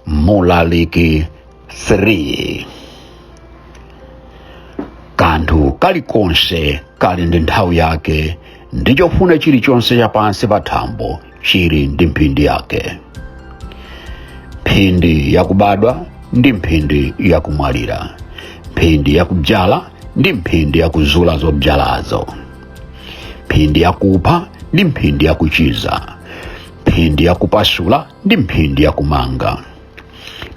mlaliki 3 kanthu kalikonse kali ndi nthawi yake ndi chofuna chilichonse chapansi pa thambo chili ndi mphindi yake mphindi yakubadwa ndi mphindi yakumwalira mphindi yakubzala ndi mphindi yakuzula zobzalazo mphindi yakupha ndi mphindi yakuchiza mphindi yakupasula ndi mphindi yakumanga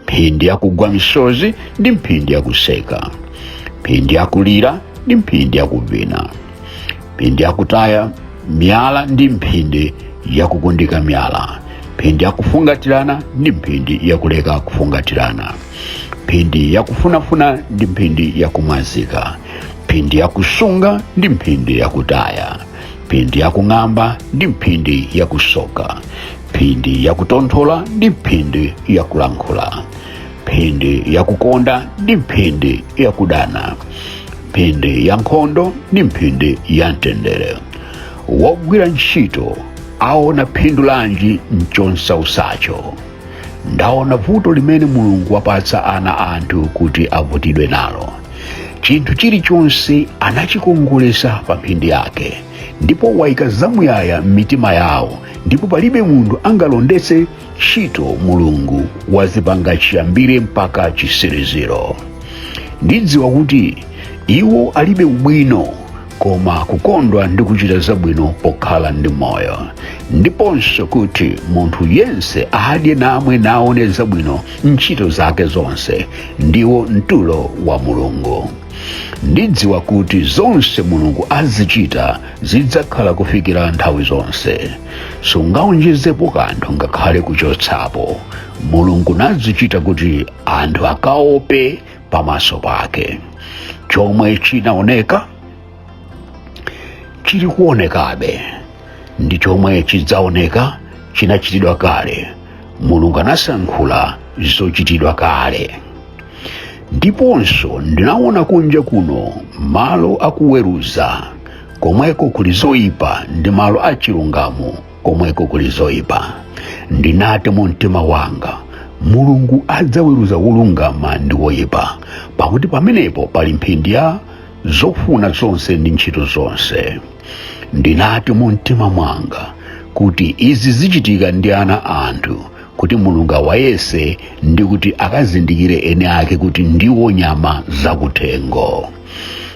mphindi yakugwa misozi ndi mphindi yakuseka mphindi yakulira ndi mphindi yakuvina mphindi yakutaya miyala ndi mphindi yakukundika miyala mphindi yakufungatirana ndi mphindi yakuleka kufungatirana mphindi yakufunafuna ndi mphindi yakumwazika mphindi yakusunga ndi mphindi yakutaya mphindi yakung'amba ndi mphindi yakusoka mphindi yakutonthola ndi mphindi yakulankhula mphindi yakukonda ndi mphindi yakudana mphindi ya nkhondo ndi mphindi ya mtendere wogwira ntchito aona phindu lanji m'chomsautsacho ndaona vuto limene mulungu wapatsa ana a anthu kuti avutidwe nalo chinthu chilichonse anachikongolesa pa mphindi yake ndipo waika zamuyaya m'mitima yawo ndipo palibe munthu angalondetse ntchito mulungu wazipanga chiyambire mpaka chitsiriziro ndidziwa kuti iwo alibe ubwino koma kukondwa ndi kuchita zabwino pokhala ndi moyo ndiponso kuti munthu yense adye namwe naone zabwino m'ntchito zake zonse ndiwo mtulo wa mulungu ndidziwa kuti zonse mulungu azichita zidzakhala kufikira nthawi zonse sungaonjezepo kanthu ngakhale kuchotsapo mulungu nazichita kuti anthu akaope pamaso pake chomwe chinaoneka chili kuonekabe ndi chomwe chidzaoneka chinachitidwa kale mulungu anasanthula zochitidwa kale ndiponso ndinaona kunja kuno malo akuweruza komweko kuli zoyipa ndi malo achilungamo komweko kuli zoyipa ndinati mu mtima wanga mulungu adzaweruza wolungama ndi woyipa pakuti pamenepo pali mphindi ya zofuna zonse ndi ntchito zonse ndinati mu mtima mwanga kuti izi zichitika ndi ana a anthu kuti mulungu awayese ndi kuti akazindikire eni ake kuti ndiwo nyama zakuthengo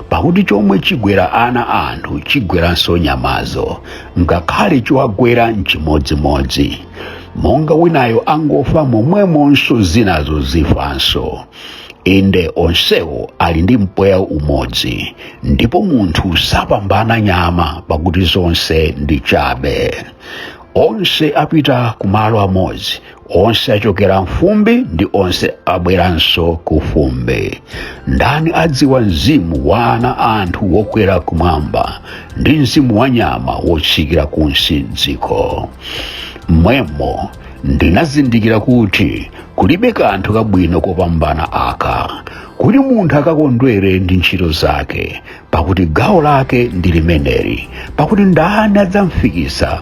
pakuti chomwe chigwera ana a anthu chigweranso nyamazo ngakhale chiwagwera nchimodzimodzi monga winayo angofa momwemonso zinazo zifanso inde onsewo ali ndi mpweya umodzi ndipo munthu sapambana nyama pakuti zonse ndi chabe onse apita kumalo amodzi onse achokera mfumbi ndi onse abweranso ku fumbi ndani adziwa mzimu wa ana a anthu wokwera kumwamba ndi mzimu wa nyama wotsikira kunsi dziko mmwemo ndinazindikira kuti kulibe kanthu kabwino kopambana aka kuti munthu akakondwere ndi ntchito zake pakuti gawo lake ndi limeneli pakuti ndani adzamfikisa